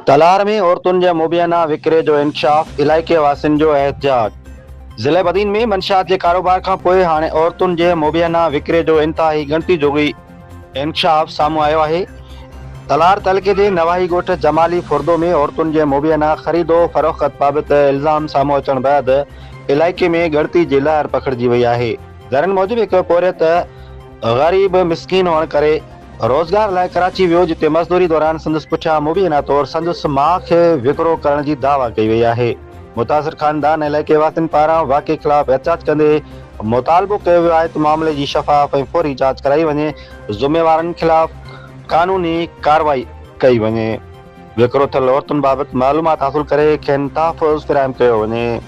تلار ۾ عورتن جي مبينا وڪري جو انڪشاف، علائقي واسين جو احتجاج. ضلعي بدين ۾ منشيات جي ڪاروبار کانپوء هاڻي عورتن جي مبينا وڪري جو انتهائي ڳڻتي جوڳي انڪشاف سامهون آيو آهي، تلار تعلقي جي نواحي ڳوٺ جمالي فردو ۾ عورتن جي مبينا خريد و فروخت بابت الزام سامهون اچڻ بعد علائقي ۾ ڳڻتي جي لهر پکڙجي وئي آهي، ذريعن موجب هڪ پورهيت. غريب مسڪين هئڻ ڪري روزگار لاء ڪراچي ويو جتي مزدوري دوران سندس پٺيان مبينا طور سندس ماء کي وڪرو ڪرڻ جي دعويٰ ڪئي وئي آهي متاثر خاندان ۽ علائقي واسين پاران واقعي خلاف احتجاج ڪندي مطالبو ڪيو ويو آهي ته معاملي جي شفاف ۽ فوري جاچ ڪرائي وڃي ذميوارن خلاف قانوني ڪارروائي ڪئي وڃي وڪرو ٿيل عورتن بابت معلومات حاصل ڪري کين تحفظ فراهم ڪيو وڃي.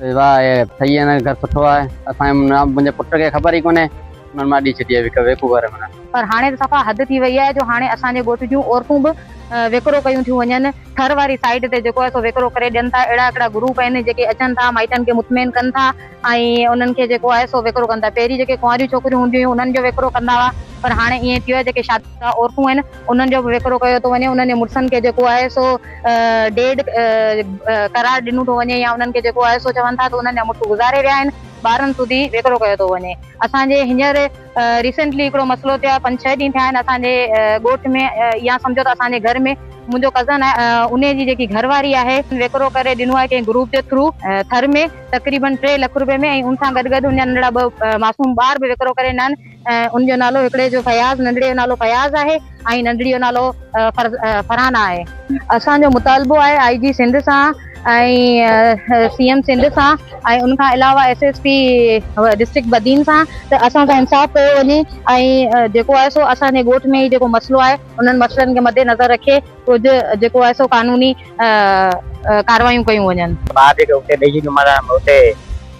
واهه اهي ٺهي هن جو گهر سٺو آهي اسان جي نه منهنجي پٽ کي خبر ئي ڪونهي انهن مان ڏي ڇڏي هڪ ويڪو گهر منا. پر هاڻي ته صفا حد ٿي وئي آهي جو هاڻي اسان جي ڳوٺ جون عورتون به وڪرو ڪيون ٿيون وڃن ٿر واري سائيڊ تي جيڪو آهي سو وڪرو ڪري ڏين ٿا اهڙا هڪڙا گروپ آهن جيڪي اچن ٿا مائٽن کي مطمئن ڪن ٿا ۽ انهن کي جيڪو آهي سو وڪرو ڪن ٿا پهرين جيڪي ڪنواريون ڇوڪريون هونديون هيون انهن جو وڪرو ڪندا هئا پر هاڻي ائين ٿي ويو آهي جيڪي شادي شده عورتون آهن انهن جو به وڪرو ڪيو ٿو وڃي، انهن جي مڙسن کي جيڪو آهي سو ڊيڊ قرار ڏنو ٿو وڃي يا انهن کي جيڪو آهي سو چون ٿا ته انهن جا مڙس گذاري ويا آهن، ٻارن سوڌي وڪرو ڪيو ٿو وڃي. اسان جي هينئر ريسينٽلي هڪڙو مسئلو ٿيو آهي، پنج ڇهه ڏينهن ٿيا آهن اسان جي ڳوٺ ۾ يا سمجهو ته اسان جي گهر ۾ منهنجو ڪزن آهي انهي جي جيڪي گهر واري آهي، وڪرو ڪري ڏنو آهي ڪنهن گروپ جي ٿرو ٿر ۾ تقريبن ٽي لک روپين ۾ ۽ ان سان گڏ گڏ ان جا ننڍڙا ٻه معصوم ٻار به وڪرو ڪري ڏنا آهن. ان جو نالو هڪڙي جو فياض ننڍڙي جو نالو فياض آهي ۽ ننڍڙي جو نالو فرحانه آهي. اسان جو مطالبو آهي آء جي سنڌ سان ۽ سي ايم سنڌ سان ۽ ان کان علاوه S S P district Badin سان ته اسان سان انصاف ڪيو وڃي ۽ جيڪو آهي سو اسان جي ڳوٺ ۾ هي جيڪو مسئلو آهي انهن مسئلن کي مد نظر رکي ڪجهه جيڪو آهي سو قانوني ڪاروايون ڪيون وڃن. بعد جيڪي اتي ڏيجي نماز آهي اتي.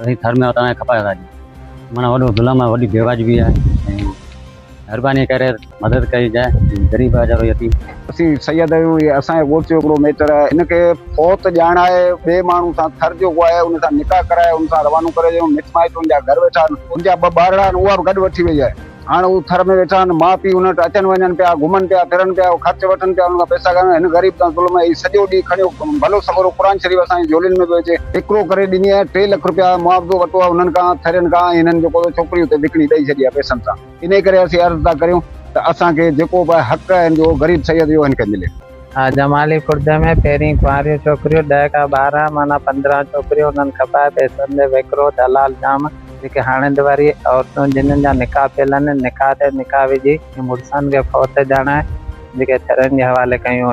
اسين ٿر ۾ اوتان کپائي ويا آهيون مانا وڏو ظلم آهي وڏي بيواجبي آهي ۽ مھرباني ڪري مدد ڪئي جاء غريب آهي ويچارو يتيم. اسين سيد آهيون هي اسان جي ڳوٺ جو هڪڙو ميٽر آهي هن کي فوت ڄاڻائي ٻئي ماڻهو سان ٿر جو ڪو آهي ان سان نڪاح ڪرائي ان سان روانو ڪري ڏيون مٽ مائٽ ان جا گهر ويٺا آهن ان جا ٻه ٻارڙا آهن اها به گڏ وٺي وئي آهي هاڻ هو ٿر ۾ ويٺا آهن، ماء پيء هن وٽ اچن وڃن پيا، گهمن پيا، ڦرن پيا، هو خرچ وٺن پيا، هنن کان پئسا گهرن، هن غريب تان ظلم اهي سڄو ڏينهن کڻيو، ڀلو سڳورو قرآن شريف اسان جي جهولين ۾ به هجي. هڪڙو ڪري ڏني ۽ ٽي لک رپيا معاوضو ورتو آهي هنن کان، ٿرين کان، ۽ هنن جيڪو ڇوڪري اتي وڪڻي ڏئي ڇڏي آهي پئسن سان. انهيء ڪري اسين عرض ٿا ڪريون ته اسان کي جيڪو به حق هن جو غريب سيد جو هن کي ملي. جمالي کڙدي ۾ پهرين ڪنواريون ڇوڪريون، ڏهه کان ٻارهن معنيٰ پندرهن ڇوڪريون، انهن کپائي پئسن تي وڪرو، دلال جام، جيڪي هاڻي دواري عورتون جنهن جا نڪاح ٿيل آهن، نڪاح تي نڪاح وجهي، مڙسن کي فوت ڄاڻائي، جيڪي ٿرين جي حوالي ڪيون ويون.